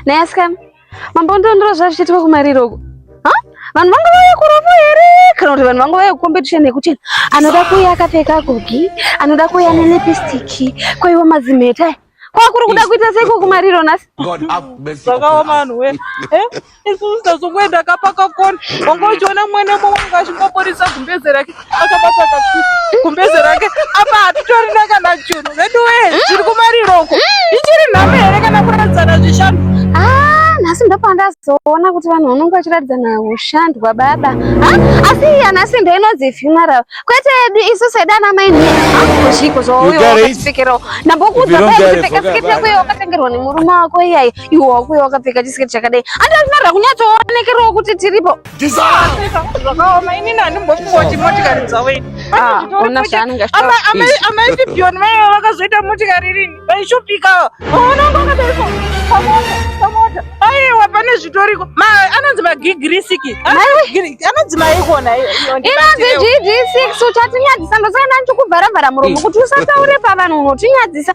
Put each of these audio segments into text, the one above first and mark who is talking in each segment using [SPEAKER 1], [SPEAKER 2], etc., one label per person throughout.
[SPEAKER 1] Naye asikana, mambo ndondoro zvavichitika kumariro uko. Ha? Vanhu vanga vauya kurovo here? Kana kuti vanhu vanga vauya kucompetition yekuti anoda kuuya akapfeka gogi, anoda kuuya nelipstick, kwaiwa mazimheta. Kwakuri kuda kuita seiko kumariro nhasi? Zvakaoma
[SPEAKER 2] vanhu we. Eh? isusu tazongoenda ka pakakona wanga uchiona mwana umwe wanga achingoporisa gumbeze rake akabata gumbeze rake apa hatitorina kana chunhu vedu wee zviri kumariroko ichiri nhame here kana kuradzana zvishanu ah, nhasi
[SPEAKER 1] ndopandazoona kuti vanhu vanonge vachiratidzana ushandwa baba ah, asi iya nhasi ndo inonzi funeral kwete yedu isu sedana maini ah, zviko zvauyopikirawo ndambokuudza paekupfeka siketi yako iyo wakatengerwa nemurume wako iyayi iwo wakuya wakapfeka chisiketi chakadai andi anofanira kunyatsoonekerewo kuti tiripo zvakaoma
[SPEAKER 2] inini handimbofuoti motikari dzavo ini Ah, ona zvaanenge
[SPEAKER 1] achitaura. amai
[SPEAKER 2] pipioni vaiva vakazoita motikari rini vaishupikawo onanga wakadaiko pamota pamota aiwa pane zvitoriko Ma- anonzi magigirisiki anonzi maikona inonzi
[SPEAKER 1] gd6 uchatinyadzisa ndosaka ndanichikuvharavhara muromo kuti usataure pavanhu unotinyadzisa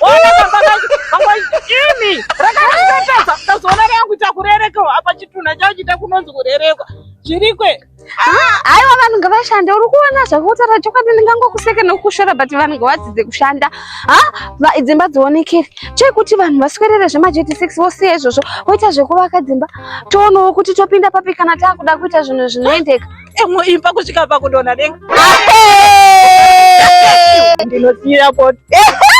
[SPEAKER 2] Ona kamba kamba imi rakatata tazona rangu takurereka apa chituna chao chita kunonzi kurerekwa chirikwe haiwa
[SPEAKER 1] vanhu ngavashande uri kuona zvakutaura chokwadi ndingangokuseka nekukushora but vanhu ngavadzidze kushanda ha dzimba dzionekere chekuti vanhu vaswerere zvemajeti six vosiya izvozvo voita zvekuvaka dzimba toonawo kuti topinda papi kana taakuda kuita zvinhu zvinoendeka emuimba kusvika
[SPEAKER 2] pakudonha denga ndinosiira poto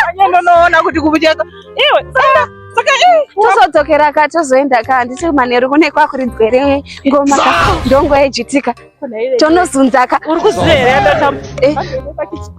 [SPEAKER 2] anye ndonoona kuti kubucheka iwe saka saka tozodzokera
[SPEAKER 1] ka tozoenda ka handisi manheru kune kwakuridzwere ngoma ka ndongoejitika tonozunzaka uri kuziva here